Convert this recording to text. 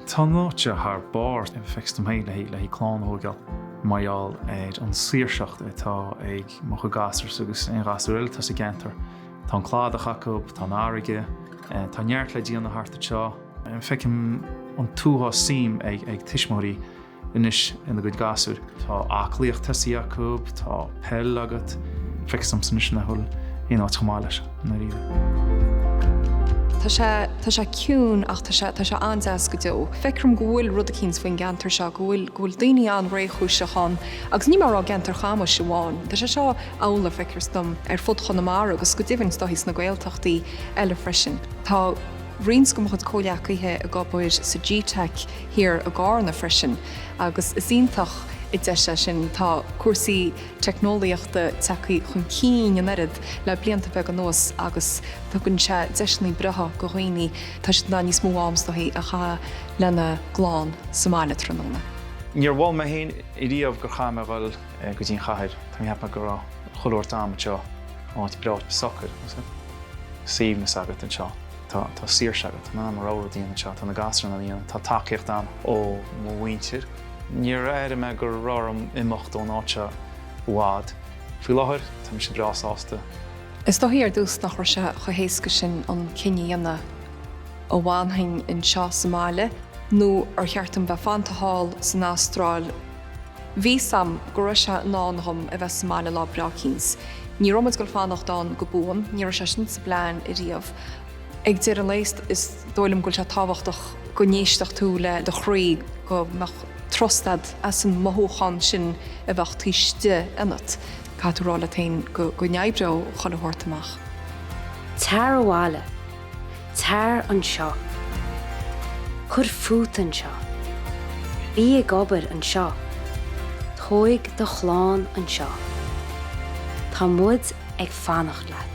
Tá an áit thar barr, feictear dom féin, le haghaidh clann a thógáil mar gheall ar an saoirseacht atá ag mo chuid gasúr agus aon ghasúr eile atá sa gceantar. Tá an cladach acu, tá an fharraige, tá neart le déanamh thart anseo. Feicim an t-uafás suim ag tuismitheoirí. anois ina gcuid gasúr, tá aclaíocht tosaithe acu, tá peil agat, feictear domsa anois nach bhfuil aon áit chomh maith leis i ndáiríre. Tá sé, tá sé ciúin ach tá sé, tá sé an-deas go deo. Feictear dom go bhfuil rud eicínt faoin gceantar seo, go bhfuil, go bhfuil daoine an-réchúiseach ann. Agus níl mé ag rá i gceantar Chamuis amháin, tá sé seo amhlaidh, feictear dom, ar fud Chonamara agus go deimhin is dóigh sna Gaeltachtaí eile freisin. Tá roinnt de mo chuid comhghleacaithe ag obair sa gteic thiar i gCarna freisin agus is iontach an deis é sin. Tá cúrsaí teicneolaíochta tagtha chun cinn an oiread le blianta beaga anuas agus tugann sé deiseanna breátha do dhaoine tá siad in ann níos mó am is dóigh a chaitheamh lena gclann sa mbaile tráthnóna. Níor mhothaigh mé féin riamh gur ghá dom a dhul go dtí an chathair. Tá mé ag ceapadh go raibh chuile shórt agam anseo, áit breá socair, suaimhneas agat anseo. Tá saoirse agat. Tá mé in ann mo rogha rud a dhéanamh anseo, tá na gasúir in ann é a dhéanamh. Tá tacaíocht agam ó mo mhuintir. Níor airigh mé go raibh orm imeacht ón áit i bhfad. Faoi láthair, tá mise breá sásta. Is dóigh ar dtús nach raibh sé chomh héasca sin an cinneadh a dhéanamh an bhfanfainn anseo sa mbaile nó ar cheart dom bheith fanta thall san Astráil. Bhí a fhios agam go raibh sé i ndán dhom a bheith sa mbaile lá breá eicínt. Ní raibh muid ag dul ag fanacht ann go buan, ní raibh sé sin sa bplean ariamh. Ag deireadh an lae is dóigh liom go bhfuil sé tábhachtach go n-éistfeadh tú le do chroí, go mbeadh trust agat as an mothúchán sin a bheadh taobh istigh ionat. Caithfidh tú rá leat féin go n-oibreoidh chuile shórt amach. Tar abhaile Tar anseo. Cuir fút anseo. Bí ag obair anseo. Tóig do chlann anseo. Tá muid ag fanacht leat.